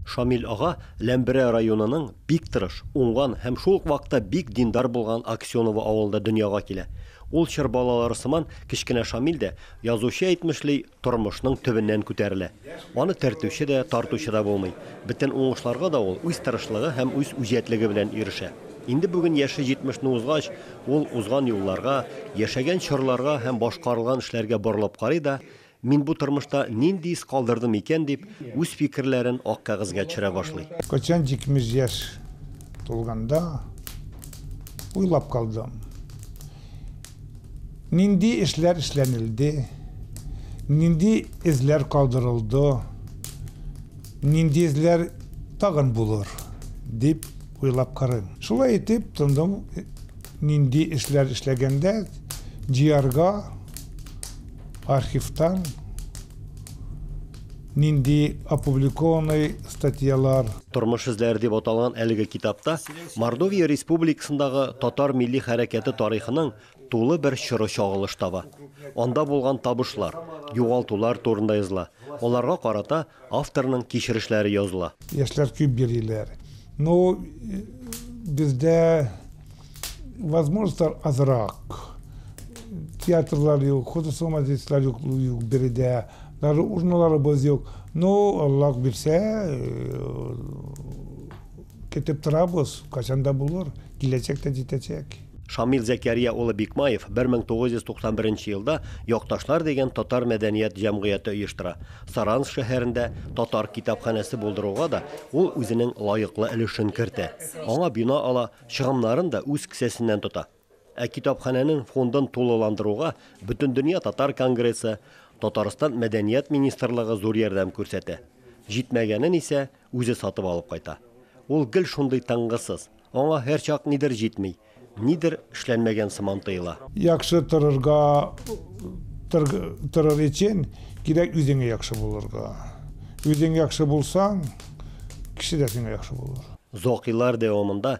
Шамил ага Ләмберә районының бик тырыш, уңган һәм шул ук вакытта бик диндар булган Аксеново авылында дөньяга килә. Ул чор балалары сыман, кечкенә Шамил дә, язучы әйтмешли, тормышның төбеннән күтәрелә. Аны төртүче дә, тартучы да булмый. Бөтен уңышларга да ул үз тырышлыгы һәм үз үҗәтлеге белән ирешә. Инде бүген яше җитмешне узгач, ул узган юлларга, яшәгән чорларга һәм башкарылган эшләргә борылып карый да, Мин бу тормышта нинди из калдырдым икән, дип, үз фикерләрен ак кәгазьгә төшерә башлый. Кайчан җитмеш яшь тулганда, уйлап калдым, нинди эшләр эшләнелде, нинди эзләр калдырылды, нинди эзләр тагын булыр, дип уйлап карыйм. Шулай итеп, тындым. нинди эшләр эшләгәндә җыярга архивтан нинди опубликованный статьялар Тормыш эзләре дип аталган әлеге китапта Мордовия республикасындагы татар милли хәрәкәте тарихының тулы бер чоры чагылыш таба. Анда булган табышлар, югалтулар турында языла, аларга карата Авторның кичерешләре языла. Яшьләр күп йөриләр. Ну, бездә возможностьлар азрак. Театрлар юк, художество-модельство юк, юк биредә. Даже урналарыбыз юк. Ну, Аллаһ бирсә, көтеп торабыз, кайчан да булыр, киләчәк тә җитәчәк. Шамил Зәкәрия улы Бикмаев 1991 елда Якташлар дигән татар мәдәният җәмгыяте оештыра. Саранск шәһәрендә татар китапханәсе булдыруга да ул үзенең лаеклы өлешен кертә. Аңа бина ала, чыгымнарын да үз кесәсеннән тота. Ә китапханәнең фондын тулыландыруга Бөтендөнья татар конгрессы, Татарстан мәдәният министрлыгы зур ярдәм күрсәтә. Җитмәгәнен исә Үзе сатып алып кайта. Ул гел шундый тынгысыз. Аңа һәрчак нидер җитми, нидер эшләнмәгән сыман тоела. Яхшы торырга торыр өчен кирәк үзеңә яхшы булырга. Үзең яхшы булсаң, кеше дә сиңа яхшы булыр. Зокилар дәвамында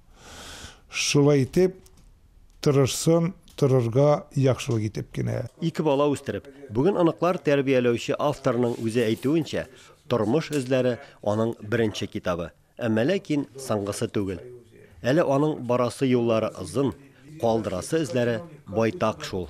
Шулай итеп, тырышсын торырга яхшылык итеп кенә. Ике бала үстереп, бүген оныклар тәрбияләүче авторның үзе әйтүенчә, Тормыш эзләре аның беренче китабы, әмма ләкин соңгысы түгел. Әле аның барасы юллары озын, калдырасы эзләре байтак шул.